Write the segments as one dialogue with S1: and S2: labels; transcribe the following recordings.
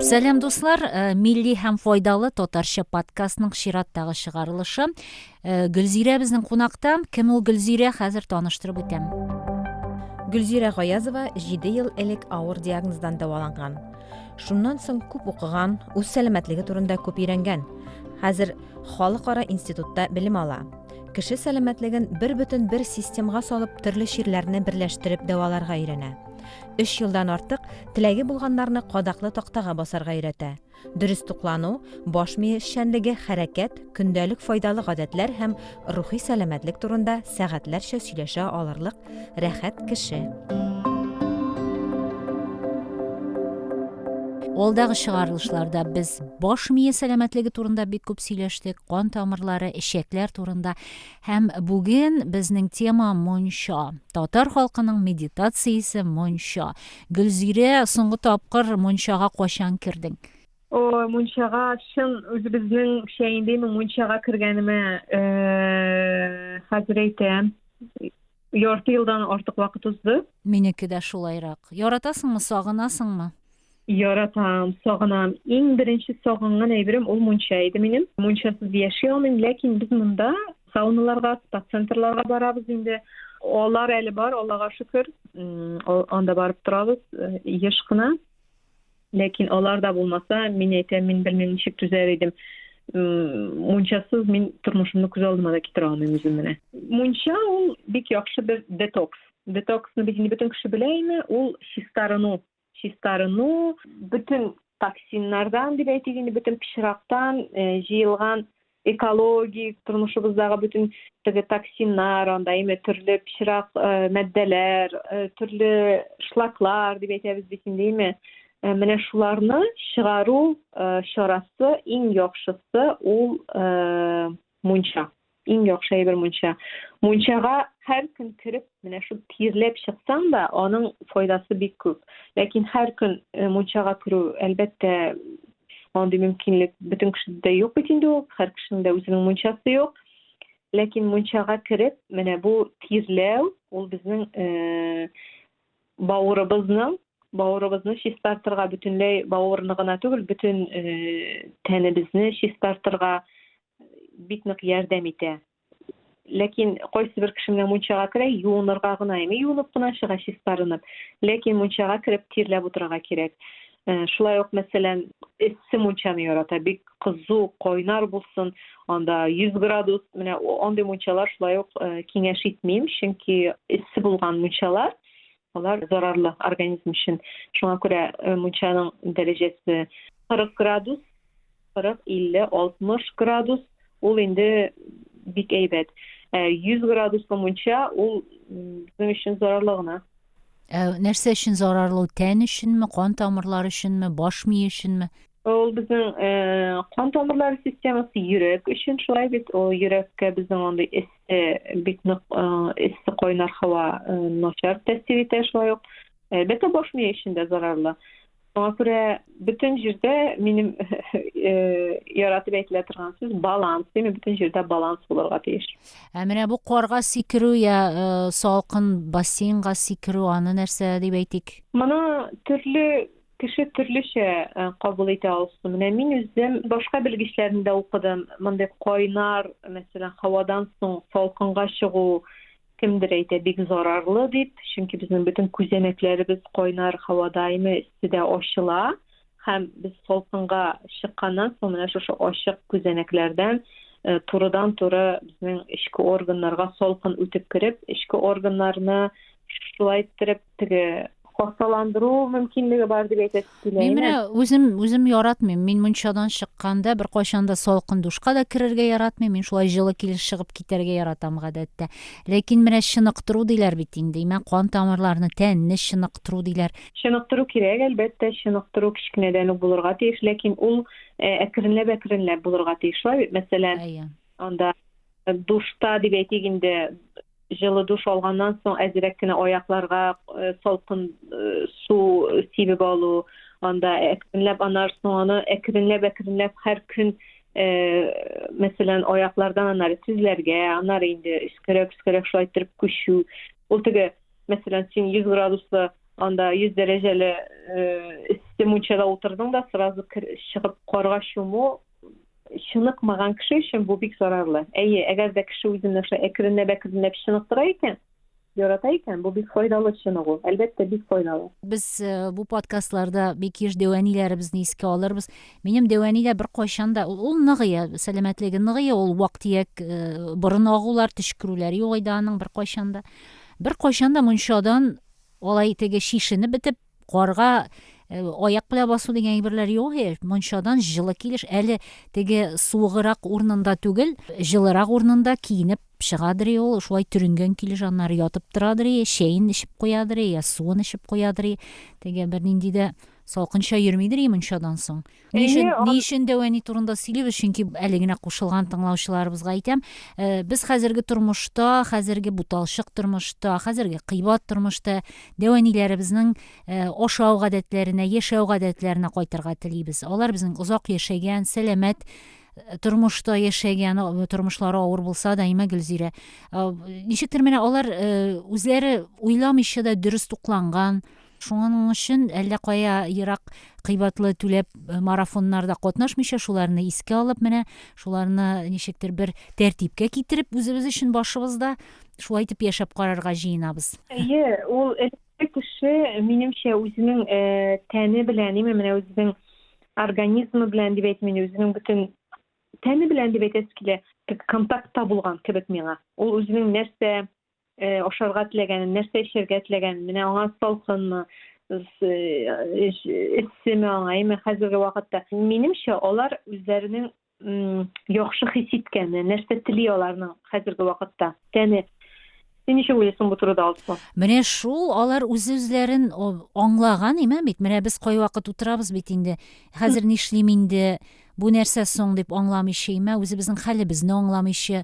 S1: Сәлам дуслар, э, милли һәм файдалы татарча подкастның чираттагы чыгарылышы. Э, Гөлзирә безнең кунакта. Кем ул Гөлзирә? Хәзер таныштырып үтәм. Гөлзирә Гаязова 7 ел элек авыр диагноздан дәваланган. Шуннан соң күп укыган, үз сәламәтлеге турында күп өйрәнгән. Хәзер халыкара институтта белем ала. Кеше сәламәтлеген бер бөтен бер системга салып, төрле чирләрне берләштереп дәваларга өйрәнә. Өч елдан артык теләге булганнарны кадаклы тактага басарга өйрәтә. Дөрес туклану, баш мие эшчәнлеге, хәрәкәт, көндәлек файдалы гадәтләр һәм рухи сәламәтлек турында сәгатьләрчә сөйләшә алырлык рәхәт кеше. Алдагы чыгарылышларда без баш мие сәламәтлеге турында бик күп сөйләштек, кан тамырлары, эчәкләр турында һәм бүген безнең тема монча. Татар халкының медитациясе монча. Гөлзирә, соңгы тапкыр мончага качан кердең? О, мончага чын үзебезнеңчә инде мин мончага кергәнемә э, хәзер әйтәм. Ярты елдан артык вакыт узды. Минеке дә шулайрак. Яратасыңмы, сагынасыңмы? Яратам, сагынам. Иң беренче сагынган әйберем ул мунча иде минем. Мунчасыз яши алмыйм, ләкин без монда сауналарга, спа-центрларга барабыз инде. Алар әле бар, Аллага шөкер. Анда барып торабыз, еш кына. Ләкин алар да булмаса, мин әйтәм, мин белмим ничек түзәр идем. Мунчасыз мин тормышымны күз алдыма да китерә алмыйм үзем менә. Мунча ул бик яхшы бер детокс. Детоксны бит инде бөтен кеше белә инде, ул чистарыну. Чистарыну бөтен токсиннардан дип әйтик инде, бөтен пычрактан э, җыелган экологик тормышыбыздагы бөтен теге токсиннар, анда әйме төрле пычрак э, матдәләр, э, төрле шлаклар дип әйтәбез бит инде, әйме. Э, менә шуларны чыгару чарасы иң яхшысы ул мунча. Иң яхшы әйбер мунча. Мунчага һәр көн кереп, менә шул тирләп чыксаң да, аның файдасы бик күп. Ләкин һәр көн мунчага керү, әлбәттә, Андый мөмкинлек бөтен кешедә дә юк бит инде ул, һәр кешенең дә үзенең мунчасы юк. Ләкин мунчага кереп, менә бу тирләү, ул безнең э, бавырыбызның бавырыбызны чистартырга, бөтенләй бавырны гына түгел, бөтен э, тәнебезне чистартырга бик нык ярдәм итә. ләкин кайсы бер кеше менә мунчага керә юынырга гына яме юынып кына чыга чистарынып ләкин мунчага кереп тирләп утырырга кирәк э, шулай ук мәсәлән эссе мунчаны ярата бик кызу кайнар булсын анда 100 градус менә андый мунчалар шулай ук э, киңәш итмим чөнки эссе булган мунчалар Алар зарарлы организм өчен. Шуңа күрә э, мунчаның дәрәҗәсе 40 градус, 40, 50, 60 градус ул инде бик әйбәт. 100 э, градуслы мунча ул безнең өчен зарарлы гына. Ә нәрсә өчен зарарлы? Тән өченме, кан тамырлары өченме, баш мие өченме? Ул безнең э, кан тамырлары системасы йөрәк өчен шулай бит. Ул йөрәккә безнең андый эссе, бик нык э, эссе кайнар һава э, начар тәэсир итә шулай ук. Әлбәттә, баш мие өчен дә зарарлы. Шуңа күрә бөтен җирдә минем яратып әйтелә торган сүз баланс. Димә, бөтен җирдә баланс булырга тиеш. Ә менә бу карга сикерү я салкын бассейнга сикерү аны нәрсә дип әйтик? Моны төрле Кеше төрлечә кабул итә алсын. Менә мин үзем башка белгечләрне дә укыдым. Мондый кайнар, мәсәлән, һавадан соң салкынга чыгу кемдер әйтә бик зарарлы дип, чөнки безнең бөтен күзәнәкләребез кайнар һавада име, өсте дә ачыла һәм без салкынга чыкканнан соң менә шушы ачык күзәнәкләрдән э, турыдан туры безнең эчке органнарга салкын үтеп кереп, эчке органнарны шулай иттереп теге хасталандыру мөмкинлеге бар дип әйтәсе килә. Мин менә үзем үзем яратмыйм. Мин мунчадан чыкканда бер кайчан да салкын душка да керергә яратмыйм. Мин шулай җылы килеш чыгып китәргә яратам гадәттә. Ләкин менә чыныктыру диләр бит инде. Имә кан тамырларны, тәнне чыныктыру диләр. Чыныктыру кирәк, әлбәттә, чыныктыру кечкенәдән үк булырга тиеш, ләкин ул э, әкренләп-әкренләп булырга тиеш. Шулай бит, мәсәлән, анда Душта дип әйтик инде, җылы душ алганнан соң әзрәк кенә аякларга э, салкын э, су сибеп алу, анда әкренләп анарсың аны әкренләп әкренләп һәр көн э, мәсәлән аяклардан анары тезләргә, анары инде өскәрәк өскәрәк шулай иттереп күчү. Ул теге мәсәлән син 100 градуслы анда 100 дәрәҗәле эссе мунчада утырдың да сразу чыгып карга чуму Чыныкмаган кеше өчен бу бик зарарлы. Әйе, әгәр дә кеше үзен нәрсә әкренләп-әкренләп чыныктыра икән, ярата икән, бу бик файдалы чыныгу. Әлбәттә, бик файдалы. Без э, бу подкастларда бик еш дәвәниләребезне искә алырбыз. Минем дәвәни дә беркайчан да ул ныгыя, сәламәтлеге ныгыя, ул вак-төяк э, борын агулар, төчкерүләр юк иде аның беркайчан да. Беркайчан да мунчадан алай теге шишенеп бетеп Карга э, аяк белән басу дигән әйберләр юк э, мунчадан җылы килеш әле теге суыгырак урынында түгел җылырак урынында киенеп чыгадыр ул шулай төренгән килеш аннары ятып торадыр чәен эчеп куядыр я суын эчеп куядыр теге бернинди дә салкынча йөрмидер мунчадан соң Ни өчен, Әйе, ни өчен дәвәни турында сөйлибез, чөнки әле генә кушылган тыңлаучыларыбызга әйтәм, э, без хәзерге тормышта, хәзерге буталчык тормышта, хәзерге кыйбат тормышта дәвәниләребезнең э, ашау гадәтләренә, яшәү гадәтләренә кайтырга телибез. Алар безнең озак яшәгән, сәламәт э, тормышта яшәгән, э, тормышлары авыр булса да, имә Гөлзирә. Э, Ничектер менә алар э, үзләре уйламыйча да дөрес тукланган, Шуның өчен әллә кая ерак кыйбатлы түләп марафоннарда катнашмыйча, шуларны искә алып менә, шуларны ничектер бер тәртипкә китереп, үзебез өчен башыбызда шулай итеп яшәп карарга җыенабыз. Әйе, ул элекке кеше, минемчә, үзенең тәне белән, именно менә үзенең организмы белән дип әйтим инде, үзенең бөтен тәне белән дип әйтәсе килә, контактта булган кебек миңа. Ул үзенең нәрсә э, ашарга теләгәнен, нәрсә эчәргә теләгәнен, менә аңа салкынмы, эссеме аңа, әйме хәзерге вакытта. Минемчә, алар үзләренең яхшы хис иткәне, нәрсә тели аларның хәзерге вакытта тәне Син ничек уйлыйсың бу турыда, Алсу? Менә шул алар үз-үзләрен аңлаган имә бит. Менә без кайвакыт утырабыз бит инде. Хәзер нишлим инде? Бу нәрсә соң дип аңламыйчы, имә үзебезнең хәлебезне аңламыйчы,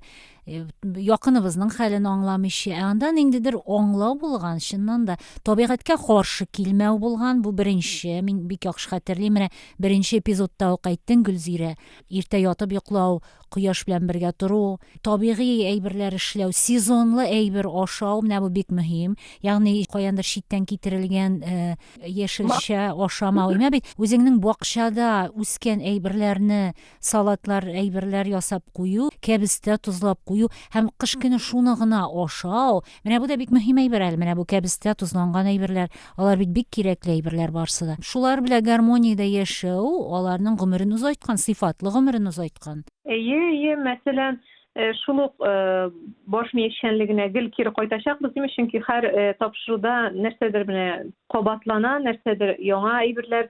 S1: э, якыныбызның хәлен аңламыйчы. Ә анда ниндидер аңлау булган, чыннан да табигатькә каршы килмәү булган. Бу беренче, мин бик яхшы хәтерлим. Менә беренче эпизодта ук әйттең, Гөлзирә. Иртә ятып йоклау, кояш белән бергә тору, табигый әйберләр эшләү, сезонлы әйбер ашау, менә бу бик мөһим. Ягъни каяндыр читтән китерелгән э, яшелчә ашамау имә бит үзеңнең бакчада үскән әйберләрне салатлар әйберләр ясап кую кәбестә тозлап кую һәм кыш көне шуны гына ашау менә бу да бик мөһим әйбер әле менә бу кәбестә тозланган әйберләр алар бит бик кирәкле әйберләр барысы да шулар белән гармониядә яшәү аларның гомерен озайткан сыйфатлы гомерен озайткан әйе әйе мәсәлән Э, шул ук э, баш ми эшчәнлегенә гел кире кайтачакбыз димме чөнки һәр э, тапшыруда нәрсәдер менә кабатлана нәрсәдер яңа әйберләр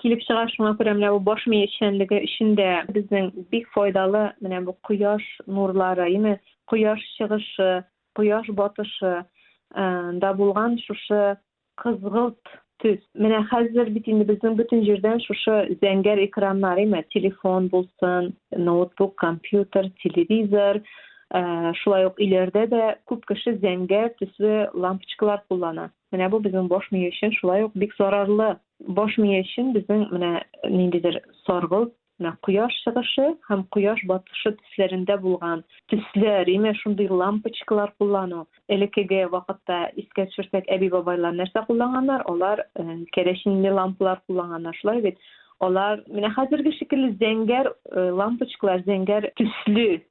S1: килеп чыга шуңа күрә менә бу баш ми эшчәнлеге өчен дә безнең бик файдалы менә бу кояш нурлары яме кояш чыгышы кояш батышы да булган шушы Кызгылт төс. Менә хәзер бит инде безнең бөтен җирдән шушы зәңгәр экраннар, әйме, телефон булсын, ноутбук, компьютер, телевизор, Э, шулай ук өйләрдә дә күп кеше зәңгәр төсле лампочкалар куллана менә бу безнең баш мие өчен шулай ук бик зарарлы баш мие өчен безнең менә ниндидер саргылт Менә кояш чыгышы һәм кояш батышы төсләрендә булган төсләр, имеш, шундый лампочкалар куллану. Элеккеге вакытта искә төшерсәк, әби-бабайлар нәрсә кулланганнар? Алар керосинле лампалар кулланганнар, шулай бит? Алар менә хәзерге шикелле зәңгәр лампочкалар, зәңгәр төсле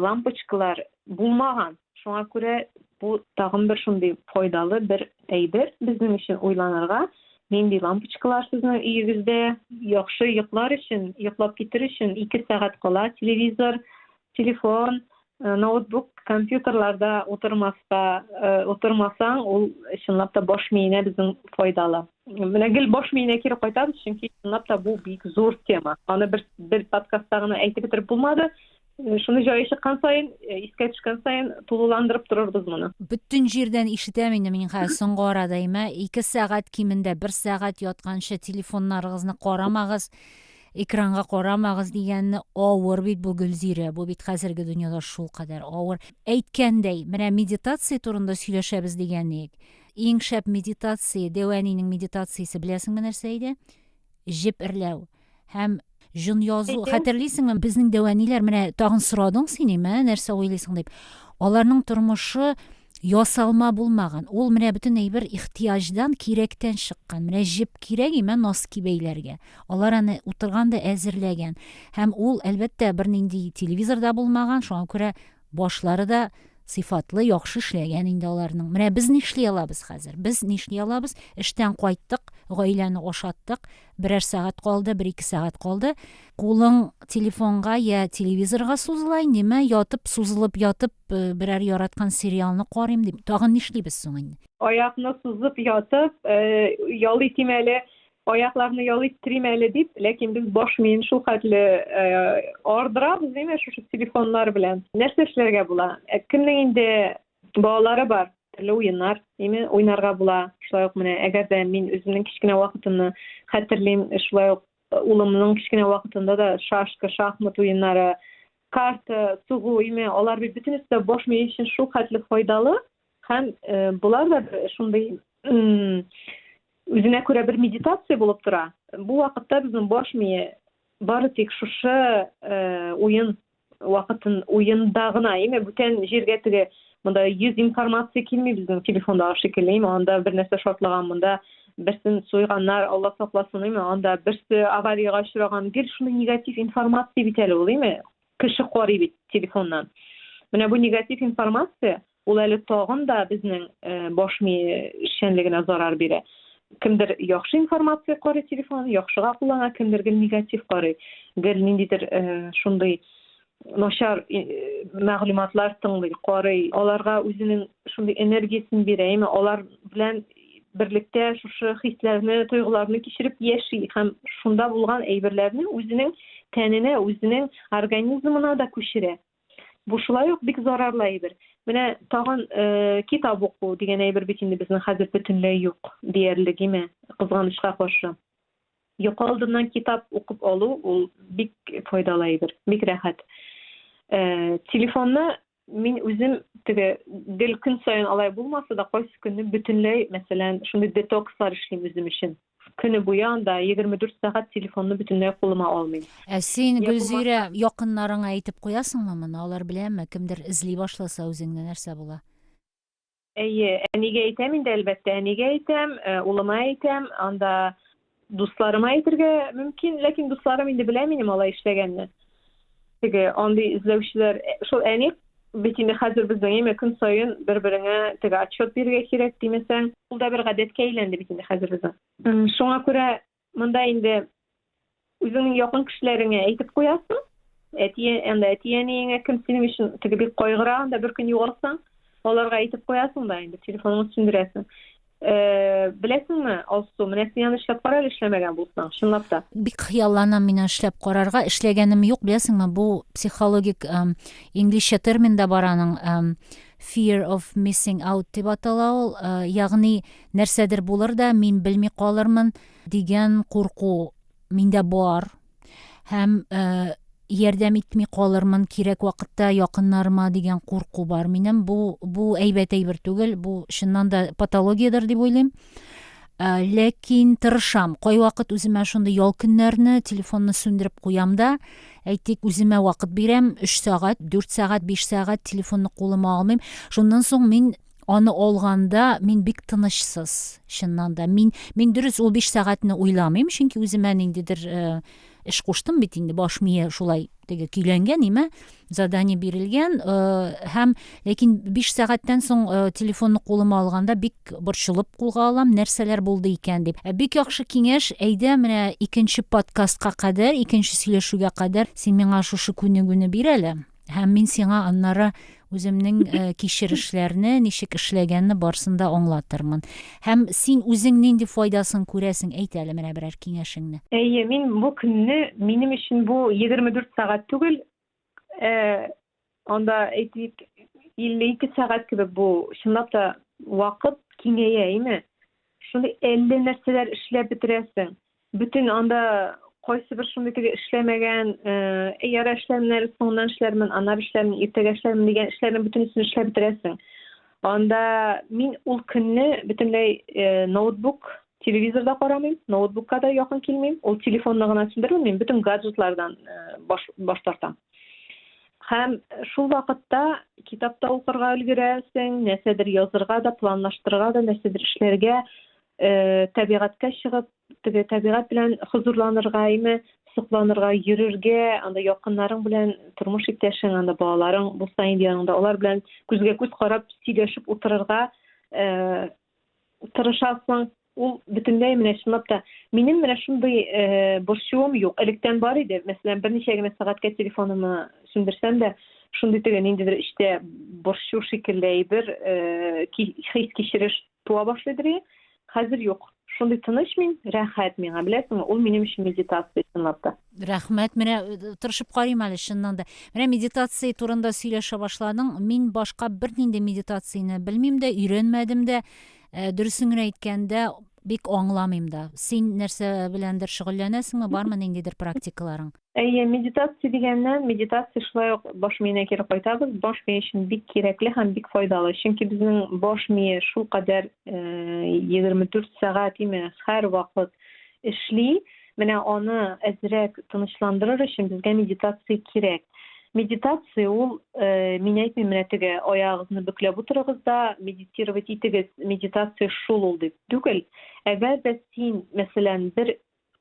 S1: лампочкалар булмаган. Шуңа күрә бу тагын бер шундый файдалы бер әйбер безнең өчен уйланырга, нинди лампочкалар сезнең өегездә. Яхшы йоклар өчен, йоклап китер өчен 2 сәгать кала телевизор, телефон, э, ноутбук, компьютерларда утырмаска, э, утырмасаң, ул чынлап та баш миенә безнең файдалы. Менә гел баш миенә кире кайтабыз, чөнки чынлап та бу бик зур тема. Аны бер бер подкастта гына әйтеп бетереп булмады. Шуны җае чыккан саен, искә төшкән саен тулыландырып торырбыз моны. Бөтен җирдән ишетәм инде мин хәзер соңгы арада имә 2 сәгать кимендә 1 сәгать ятканчы телефоннарыгызны карамагыз, экранга карамагыз дигәнне авыр бит бу Гөлзирә, бу бит хәзерге дөньяда шулкадәр авыр. Әйткәндәй, менә медитация турында сөйләшәбез дигән идек. Иң шәп медитация, Дәвәнинең медитациясе, беләсеңме нәрсә иде? җеп эрләү һәм җон язу. Хәтерлисеңме, безнең дәвәниләр менә тагын сорадың син име, нәрсә уйлыйсың дип. Аларның тормышы ясалма булмаган. Ул менә бөтен әйбер ихтияҗдан, кирәктән чыккан. Менә җеп кирәк име носки бәйләргә. Алар аны утырган да әзерләгән. Һәм ул, әлбәттә, бернинди телевизор да булмаган, шуңа күрә Башлары да сыйфатлы, яхшы эшләгән инде аларның. Менә без нишли алабыз хәзер? Без нишли алабыз? Эштән кайттык, гаиләне ашаттык, берәр сәгать калды, бер ике сәгать калды. Кулың телефонга я телевизорга сузыла инде, мә ятып, сузылып ятып, э, берәр яраткан сериалны карыйм дип. Тагын нишлибез соң инде? Аякны сузып ятып, э, ял итим әле, аякларны ял иттерим әле дип, ләкин без баш миен шул хәтле ардырабыз, димме, шушы телефоннар белән. Нәрсә эшләргә була? Ә кемнең инде балалары бар, төрле уеннар, димме, уйнарга була. Шулай ук менә, әгәр дә мин үземнең кечкенә вакытымны хәтерлим, шулай ук улымның кечкенә вакытында да шашка, шахмат уеннары, карта, сугу, име, алар бит бөтенесе дә баш мие өчен шул хәтле файдалы. Һәм э, болар да шундый үзенә күрә бер медитация булып тора. Бу вакытта безнең баш мие бары тик шушы э, уен вакытын уенда гына, яме бүтән җиргә теге монда 100 информация килми безнең телефондагы шикелле, яме анда бер нәрсә шартлаган, монда берсен суйганнар, Алла сакласын, яме анда берсе авариягә очраган, гел шундый негатив информация бит әле ул, яме Кеше карый бит телефоннан. Менә бу негатив информация, ул әле тагын да безнең э, баш ми эшчәнлегенә зарар бирә. Кемдер яхшы информация карый телефон, яхшыга куллана, кемдер гел негатив карый. Гел ниндидер э, шундый начар э, мәгълүматлар тыңлый, карый, аларга үзенең шундый энергиясен бирә, яме алар белән берлектә шушы хисләрне, тойгыларны кичереп яши һәм шунда булган әйберләрне үзенең тәненә, үзенең организмына да күчерә. Бу шулай ук бик зарарлы әйбер. Менә тагын э, китап уку дигән әйбер бит инде безнең хәзер бөтенләй юк диярлек име, кызганычка каршы. Йокы алдыннан китап укып алу ул бик файдалы әйбер, бик рәхәт. Э, телефонны мин үзем теге гел көн саен алай булмаса да кайсы көнне бөтенләй мәсәлән шундый детокслар эшлим үзем өчен көне буе анда егерме дүрт сәгать телефонны бөтенләй кулыма алмыйм ә син гөлзирә якыннарыңа әйтеп куясыңмы моны алар беләме кемдер эзли башласа үзеңне нәрсә була Әйе, әнигә әйтәм инде, әлбәттә, әнигә әйтәм, э, улыма әйтәм, анда дусларыма әйтергә мөмкин, ләкин дусларым инде белә минем алай эшләгәнне. Теге андый эзләүчеләр, э, шул әни бит инде хәзер безнең әйме көн саен бер-береңә теге отчет бирергә кирәк димәсәң, ул да бер гадәткә әйләнде бит инде хәзер безнең. Шуңа күрә Монда инде үзеңнең якын кешеләреңә әйтеп куясың. Әти, анда әти-әниеңә кем синең өчен теге бик кайгыра, анда бер көн югалсаң, аларга әйтеп куясың да инде, телефоныңны сүндерәсең. Э, беләсеңме, Алсу, менә син аны эшләп кара әле эшләмәгән булсаң, чынлап та. Бик хыялланам мин эшләп карарга. Эшләгәнем юк, беләсеңме, бу психологик эм, инглизчә термин да бар аның, эм, fear of missing out дип атала ул, э, ягъни нәрсәдер булыр да мин белми калырмын дигән курку миндә бар һәм э, ярдәм итми калырмын кирәк вакытта якыннарыма дигән курку бар минем бу бу әйбәт әйбер түгел бу чыннан да патологиядер дип уйлыйм э, ләкин тырышам кайвакыт үземә шундый ял көннәрне телефонны сүндереп куям да әйтик үземә вакыт бирәм өч сәгать дүрт сәгать биш сәгать телефонны кулыма алмыйм шуннан соң мин аны алганда мин бик тынычсыз чыннан да мин мин дөрес ул биш сәгатьне уйламыйм чөнки үземә ниндидер э, эш куштым бит инде баш мие шулай теге көйләнгән име задание бирелгән э, һәм ләкин биш сәгатьтән соң э, телефонны кулыма алганда бик борчылып кулга алам нәрсәләр булды икән дип ә бик яхшы киңәш әйдә менә икенче подкастка кадәр икенче сөйләшүгә кадәр син миңа шушы күнегүне бир әле Һәм мин сиңа аннары үземнең э, кичерешләрне, ничек эшләгәнне барсын да аңлатырмын. Һәм син үзең нинди файдасын күрәсең, әйт әле менә берәр киңәшеңне. Әйе, мин бу көнне минем өчен бу 24 сәгать түгел, э, анда әйтик 52 сәгать кебек бу чынлап та вакыт киңәя, әйме? Шундый әллә нәрсәләр эшләп бетерәсең. Бөтен анда кайсыбер шундый теге эшләмәгән, э, ярә эшләмнәр, соңыннан эшләрмен, аннары эшләрмен, иртәгә эшләрмен дигән эшләрнең бөтенесен эшләп бетерәсең. Анда мин ул көнне бөтенләй э, ноутбук, телевизорда карамыйм, ноутбукка да якын килмим, ул телефонны гына сүндермим, мин бөтен гаджетлардан э, баш, баш тартам. Һәм шул вакытта китапта укырга өлгерәсең, нәрсәдер язырга да, планлаштырырга да, нәрсәдер эшләргә, э, табигатькә чыгып, теге табигат белән хозурланырга, әйме, сокланырга, йөрергә, анда якыннарың белән, тормыш иптәшең, анда балаларың булса инде яныңда, алар белән күзгә күз карап сөйләшеп утырырга э, тырышасың. Ул бөтенләй менә чынлап та минем менә шундый э, борчуым юк. Электән бар иде. Мәсәлән, берничә генә сәгатькә телефонымны сүндерсәм дә, шундый теге ниндидер эчтә борчу шикелле әйбер, э, хис кичереш Туа башлый дери. Хәзер юк. Шундый тыныч мин, рәхәт миңа, беләсеңме? Ул минем өчен медитация, чынлап та. Рәхмәт, менә э, тырышып карыйм әле чыннан да. Менә медитация турында сөйләшә башладың. Мин башка бернинди медитацияне белмим дә, өйрәнмәдем дә. Э, дөресен генә әйткәндә, бик аңламыйм да. Син нәрсә беләндер шөгыльләнәсеңме, бармы ниндидер практикаларың? Әйе, медитация дигәнне, медитация шулай ук баш миенә кире кайтабыз. Баш мие өчен бик кирәкле һәм бик файдалы. Чөнки безнең баш мие шулкадәр 24 э, сәгать име һәр вакыт эшли. Менә аны әзрәк тынычландырыр өчен безгә медитация кирәк. Медитация ул, э, мин әйтмим, менә теге аягыгызны бөкләп утырыгыз да медитировать итегез, медитация шул ул дип түгел. Әгәр дә син, мәсәлән, бер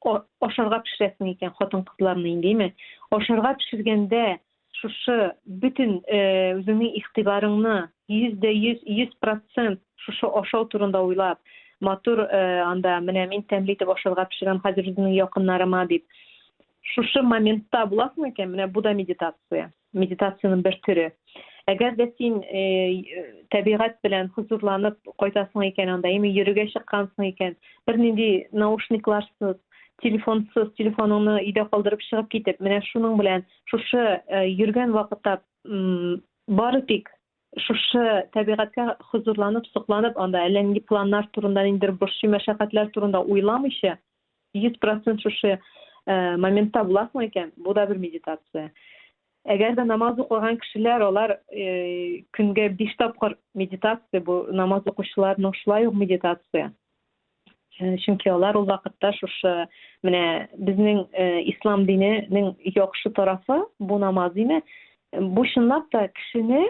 S1: ашарга пешерәсең икән хатын-кызларны инде, име? Ашарга пешергәндә шушы бөтен э, үзеңнең игътибарыңны 100% 100% шушы ашау турында уйлап, матур э, анда менә мин тәмле итеп ашарга пешерәм хәзер үземнең якыннарыма дип. Шушы моментта буласың икән, менә бу да медитация. Медитациянең бер төре. Әгәр дә син э, табигать белән хозурланып кайтасың икән анда, яме йөрергә чыккансың икән, бернинди наушникларсыз, телефонсыз, телефоныңны өйдә калдырып чыгып китеп, менә шуның белән шушы э, йөргән вакытта бары тик Шушы табигатькә хозурланып, сокланып, анда әллә нинди планнар турында, ниндидер борчый мәшәкатьләр турында уйламыйча, 100 процент шушы моментта буласың икән, бу да бер медитация. Әгәр дә намаз укыган кешеләр, алар көнгә биш тапкыр медитация, бу намаз укучыларның шулай ук медитация. Э, чөнки алар ул вакытта шушы менә безнең э, ислам диненең яхшы тарафы бу намаз диме бу чынлап та кешене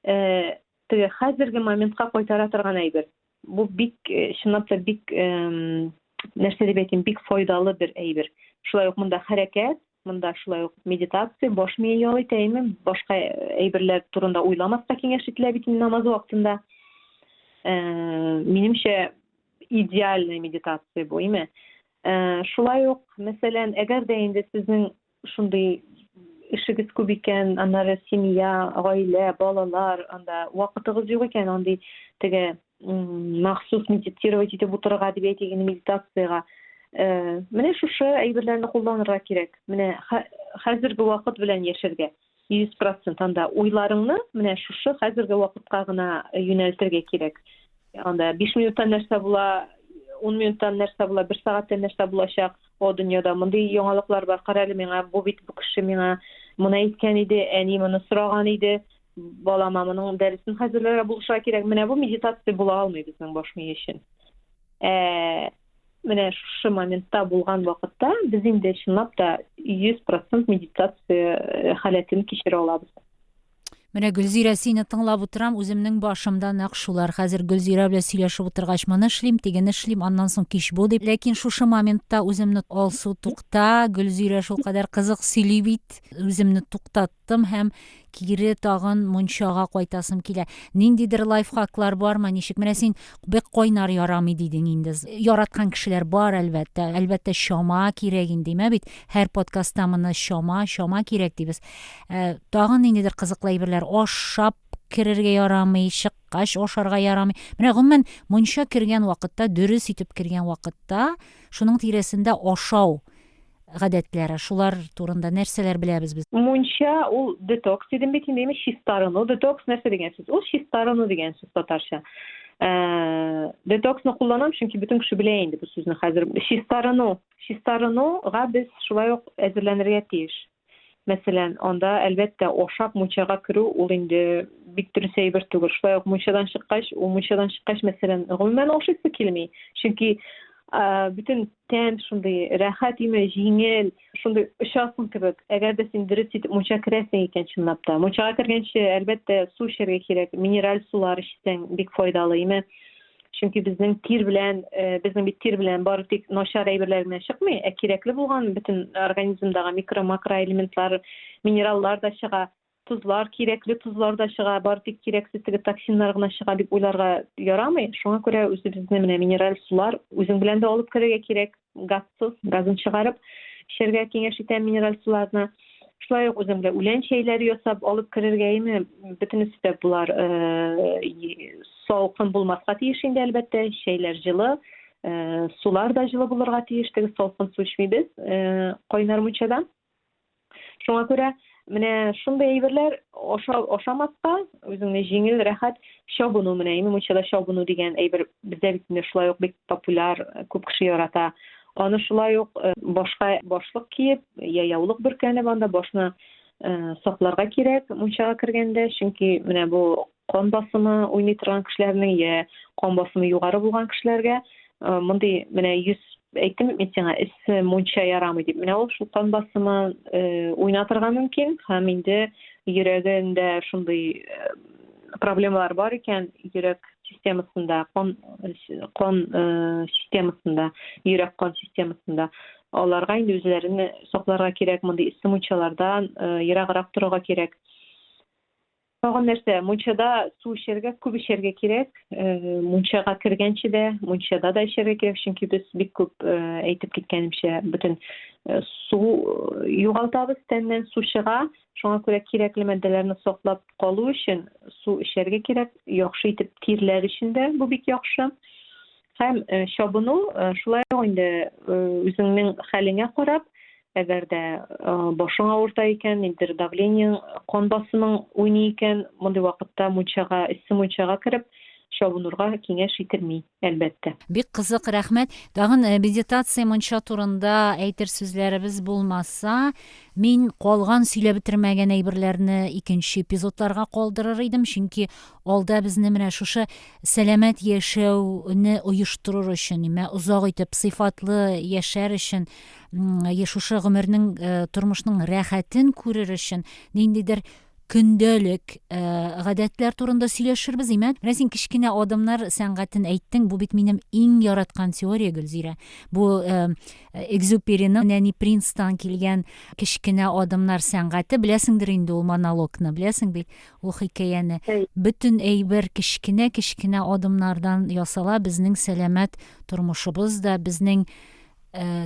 S1: э, теге хәзерге моментка кайтара торган әйбер бу бик чынлап та бик нәрсә дип әйтим бик файдалы бер әйбер шулай ук монда хәрәкәт Монда шулай ук медитация, баш мие ял итә, әйме, башка әйберләр турында уйламаска киңәш ителә бит инде намаз вакытында. Э, минемчә, идеальная медитация бу, әйме. Э, шулай ук, мәсәлән, әгәр дә инде сезнең шундый эшегез күп икән, аннары семья, гаилә, балалар, анда вакытыгыз юк икән, андый теге махсус медитировать итеп утырырга дип әйтик инде медитациягә э, менә шушы әйберләрне кулланырга кирәк менә хәзерге вакыт белән яшәргә йөз процент анда уйларыңны менә шушы хәзерге вакытка гына юнәлтергә кирәк анда биш минуттан нәрсә була ун минуттан нәрсә була бер сәгатьтән нәрсә булачак о дөньяда мондый яңалыклар бар кара әле миңа бу бит бу кеше миңа моны әйткән иде әни моны сораган иде Балама моның дәресен хәзерләргә булышырга кирәк. Менә бу медитация була алмый безнең баш мие өчен. Ә, менә шушы моментта булган вакытта без инде чынлап та 100% медитация э, халәтен кичерә алабыз. Менә Гөлзирә сине тыңлап утырам, үземнең башымда нәкъ шулар. Хәзер Гөлзирә белән сөйләшеп утыргач, моны эшлим, тигене эшлим, аннан соң кич бу дип. Ләкин шушы моментта үземне алсу тукта, Гөлзирә шулкадәр кызык сөйли бит, үземне туктат кайттым һәм кире тагын мунчага кайтасым килә. Ниндидер лайфхаклар бармы? Ничек? Менә син бик кайнар ярамый дидең инде. Яраткан кешеләр бар, әлбәттә. Әлбәттә, чама кирәк инде, мә бит. Һәр подкастта моны чама, чама кирәк дибез. Э, тагын ниндидер кызыклы әйберләр ашап керергә ярамый, чыккач ашарга ярамый. Менә гомумән мунча кергән вакытта, дөрес итеп кергән вакытта, шуның тирәсендә ашау гадәтләре, шулар турында нәрсәләр беләбез без? Мунча ул детокс дидем бит инде, чистарыну. Детокс нәрсә дигән сүз? Ул чистарыну дигән сүз татарча. Э, детоксны кулланам, чөнки бөтен кеше белә инде бу сүзне хәзер. Чистарыну, чистарынуга без шулай ук әзерләнергә тиеш. Мәсәлән, анда, әлбәттә, ашап мунчага керү ул инде бик дөрес әйбер түгел. Шулай ук мунчадан чыккач, ул мунчадан чыккач, мәсәлән, гомумән ашыйсы килми. Чөнки бөтен тән шундый рәхәт име, җиңел, шундый очасың кебек. Әгәр дә син дөрес итеп мунча керәсең икән чынлап та. Мунчага кергәнче, әлбәттә, су эчәргә кирәк. Минераль сулар эчсәң бик файдалы име. чөнки безнең тир белән э, безнең бит тир белән бары тик начар әйберләр генә чыкмый ә кирәкле булган бөтен организмдагы микро макроэлементлар минераллар да чыга тозлар кирәкле тозлар да чыга бары тик кирәксез теге токсиннар гына чыга дип уйларга ярамый шуңа күрә үзебезне менә минераль сулар үзең белән дә алып керергә кирәк газсыз, газын чыгарып, эчәргә киңәш итә минераль суларны. Шулай ук үзем белән үлән чәйләре ясап алып керергә име, бөтенесе дә болар салкын булмаска тиеш инде, әлбәттә, чәйләр җылы, сулар да җылы булырга тиеш, теге салкын су эчмибез, кайнар мунчадан. Шуңа күрә менә шундый әйберләр аша, ашамаска үзеңне җиңел рәхәт чабыну менә име мунчада чабыну дигән әйбер бездә бит инде шулай ук бик популяр күп кеше ярата аны шулай ук э, башка башлык киеп я яулык бөркәнеп анда башны э, сакларга кирәк мунчага кергәндә чөнки менә бу Кан басымы уйный торган кешеләрнең я кан басымы югары булган кешеләргә э, мондый менә йөз әйттем мин сиңа эссе мунча ярамый дип менә ул шул кан басымы э, уйна торган мөмкин һәм инде йөрәгендә шундый э, проблемалар бар икән йөрәк системасында кан кан системасында йөрәк кан системасында аларга инде үзләрен сакларга кирәк мондый эссе мунчалардан ераграк торырга кирәк Тагын нәрсә, мунчада су эчәргә, күп эчәргә кирәк. Э, мунчага кергәнче дә, мунчада да эчәргә кирәк, чөнки без бик күп э, әйтеп киткәнемчә, бөтен э, су югалтабыз тәннән, су чыга. Шуңа күрә кирәкле матдәләрне саклап калу өчен су эчәргә кирәк. Яхшы итеп тирләр өчен дә бу бик яхшы. Һәм э, чабыну э, шулай ук инде э, үзеңнең хәлеңә карап, әгәр дә башың авырта икән, ниндидер давлениең, кан басымың уйный икән, мондый вакытта мунчага, эссе мунчага кереп, чабынырга киңәш ителми, әлбәттә. Бик кызык, рәхмәт. Тагын э, медитация мунча турында әйтер сүзләребез булмаса, мин калган сөйләп бетермәгән әйберләрне икенче эпизодларга калдырыр идем, чөнки Алда безне менә шушы сәламәт яшәүне оештырыр өчен, имә озак итеп сыйфатлы яшәр өчен, шушы гомернең, э, тормышның рәхәтен күрер өчен ниндидер көндәлек э, гадәтләр турында сөйләшербез имә менә син кечкенә адымнар сәнгатен әйттең бу бит минем иң яраткан теория гөлзирә бу э, экзюпериның нәни принцтан килгән кечкенә адымнар сәнгате беләсеңдер инде ул монологны беләсең бит Бу хикәяне. Әй. Бөтен әйбер кечкенә-кечкенә адымнардан ясала, безнең сәламәт тормышыбыз да, безнең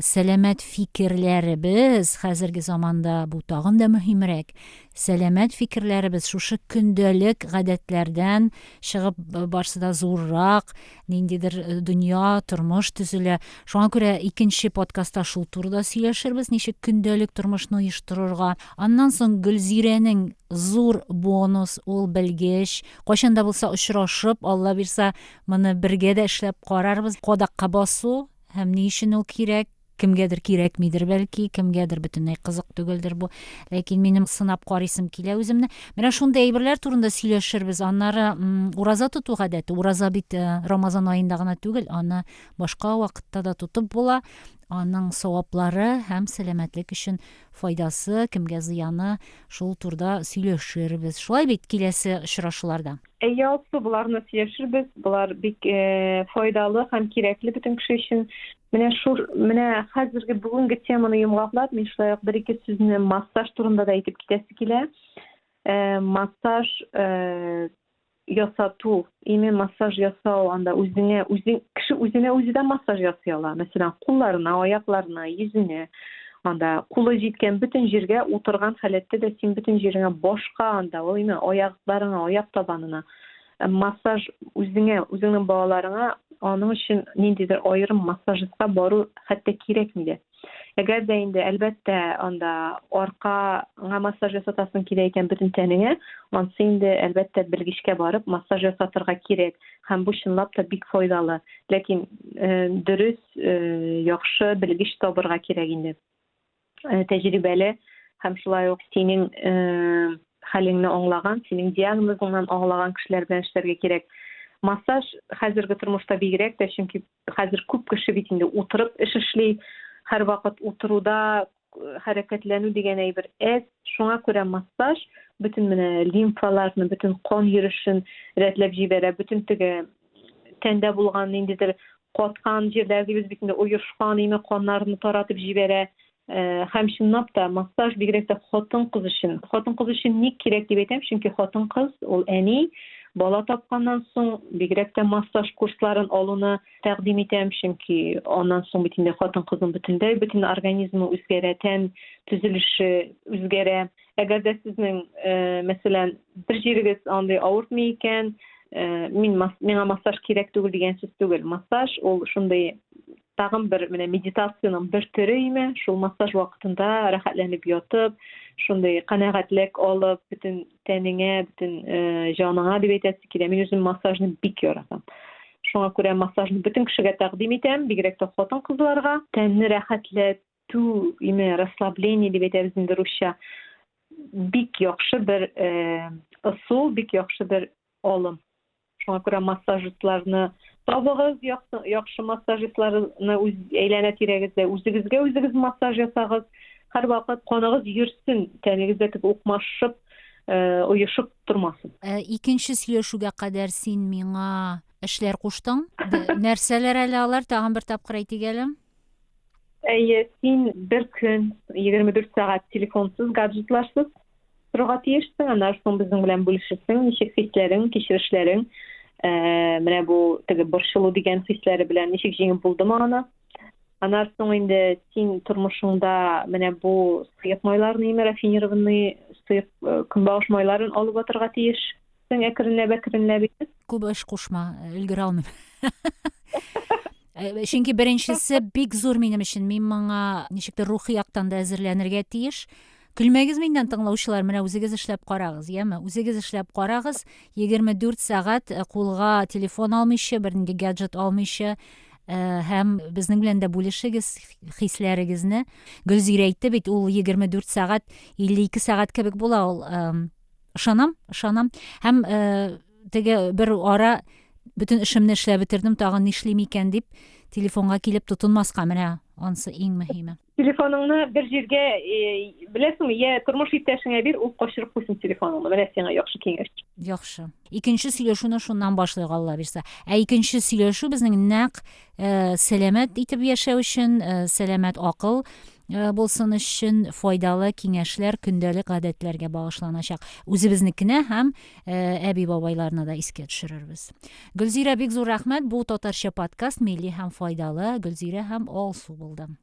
S1: сәламәт фикерләребез, хәзерге заманда бу тагын да мөһимрәк, сәламәт фикерләребез шушы көндәлек гадәтләрдән чыгып, барсы да зуррак, ниндидер дөнья, тормыш төзелә. Шуңа күрә икенче подкастта шул турыда сөйләшербез, ничек көндәлек тормышны оештырырга. Аннан соң Гөлзирәнең зур бонус, ул белгеч. Кайчан да булса очрашып, Алла бирса, моны бергә дә эшләп карарбыз. Кадакка басу һәм ни өчен ул кирәк? Кемгәдер кирәкмидер бәлки, кемгәдер бөтенләй кызык түгелдер бу. Ләкин минем сынап карыйсым килә үземне. Менә шундый әйберләр турында сөйләшербез. Аннары ураза тоту гадәте. Ураза бит э, Рамазан аенда гына түгел, аны башка вакытта да тотып була. Аның саваплары һәм сәламәтлек өчен файдасы, кемгә зыяны, шул турда сөйләшербез. Шулай бит киләсе очрашуларда. Әйе, Алсу, боларны сөйләшербез. Болар бик э, файдалы һәм кирәкле бөтен кеше өчен. Менә шул менә хәзерге бүгенге теманы йомгаклап, мин шулай ук бер-ике сүзне массаж турында да әйтеп китәсе килә. Э, массаж э, ясату, именно массаж ясау, анда үзеңә, үзең кеше үзенә үзе дә массаж ясый ала. Мәсәлән, кулларына, аякларына, йөзенә. анда кулы җиткән бөтен җиргә утырган халәттә дә син бөтен җиреңә башка анда ул именно аякларыңа аяк табанына э, массаж үзеңә үзеңнең балаларыңа аның өчен ниндидер аерым массажистка бару хәтта кирәкми дә әгәр дә инде әлбәттә анда аркаңа массаж ясатасың килә икән бөтен тәнеңә ансы инде әлбәттә белгечкә барып массаж ясатырга кирәк һәм бу чынлап та бик файдалы ләкин э, дөрес яхшы белгеч табырга кирәк инде тәҗрибәле һәм шулай ук синең хәлеңне аңлаган синең диагнозыңнан аңлаган кешеләр белән эшләргә кирәк массаж хәзерге тормышта бигрәк тә чөнки хәзер күп кеше бит инде утырып эш эшли һәрвакыт утыруда хәрәкәтләнү дигән әйбер әз, шуңа күрә массаж бөтен менә лимфаларны, бөтен кан йөрүшен рәтләп җибәрә, бөтен теге тәндә булган ниндидер каткан җирләр дибез бит инде, оешкан име каннарны таратып җибәрә. Э, һәм чынлап та массаж бигрәк тә хатын-кыз өчен. Хатын-кыз өчен ник кирәк дип әйтәм, чөнки хатын-кыз ул әни, бала тапканнан соң бигрәк тә массаж курсларын алуны тәкъдим итәм, чөнки аннан соң бит инде хатын-кызның бөтенләй бөтен организмы үзгәрә, тән төзелеше үзгәрә. Әгәр дә сезнең, э, мәсәлән, бер җирегез андый авыртмый икән, э, мин мас, миңа массаж кирәк түгел дигән сүз түгел. Массаж ул шундый тагын бер менә медитациянең бер төре име, шул массаж вакытында рәхәтләнеп ятып, шундый канәгатьлек алып, бөтен тәнеңә, бөтен э, җаныңа дип әйтәсе килә. Мин үзем массажны бик яратам. Шуңа күрә массажны бөтен кешегә тәкъдим итәм, бигрәк тә хатын-кызларга. Тәнне рәхәтләтү, име, расслабление дип әйтәбез инде русча. Бик яхшы бер э, ысул, бик яхшы бер алым. Шуңа күрә массажистларны табыгыз, яхшы массажистларны үз әйләнә тирәгездә үзегезгә үзегез массаж ясагыз. Һәрвакыт каныгыз йөрсен, тәнегез дә тек укмашып, э, оешып тормасын. Э, икенче сөйләшүгә кадәр син миңа эшләр куштың. Нәрсәләр әле алар? Тагын бер тапкыр әйтик әле. Әйе, син бер көн 24 сәгать телефонсыз, гаджетларсыз торырга тиешсең. Аннан соң безнең белән бүлешерсең, ничек хисләрең, кичерешләрең, ә, э, менә бу теге борчылу дигән хисләре белән ничек җиңеп булдымы аны. Аннан соң инде син тормышыңда менә бу сыек майларны, рафинированный сыек э, көнбагыш майларын алып атырга тиеш. Син әкренләп әкренләп итеп. Күп эш кушма, өлгерә алмыйм. Э, чөнки беренчесе бик зур минем өчен. Мин моңа ничектер рухи яктан да әзерләнергә тиеш. Көлмәгез миннән тыңлаучылар, менә үзегез эшләп карагыз, яме? Үзегез эшләп карагыз, 24 сәгать э, кулга телефон алмыйча, бернинди гаджет алмыйча, Э, һәм безнең белән дә бүлешегез хисләрегезне гөлзирә әйтте бит ул егерме дүрт сәгать илле ике сәгать кебек була ул Ышанам, ышанам. Һәм э, теге бер ара бөтен эшемне эшләп бетердем, тагын нишлим икән дип, телефонга килеп тотынмаска менә ансы иң мөһиме. Телефоныңны бер җиргә э, беләсеңме, я тормыш иптәшеңә бир, ул качырып куйсын телефоныңны. Менә сиңа яхшы киңәш. Яхшы. Икенче сөйләшүне шуннан башлыйк, Алла бирсә. Ә икенче сөйләшү безнең нәкъ Э, сәламәт итеп яшәү өчен э, сәламәт акыл э, булсын өчен файдалы киңәшләр көндәлек гадәтләргә багышланачак үзебезнекенә һәм әби бабайларны да искә төшерербез гөлзирә бик зур рәхмәт бу татарча подкаст милли һәм файдалы гөлзирә һәм алсу булды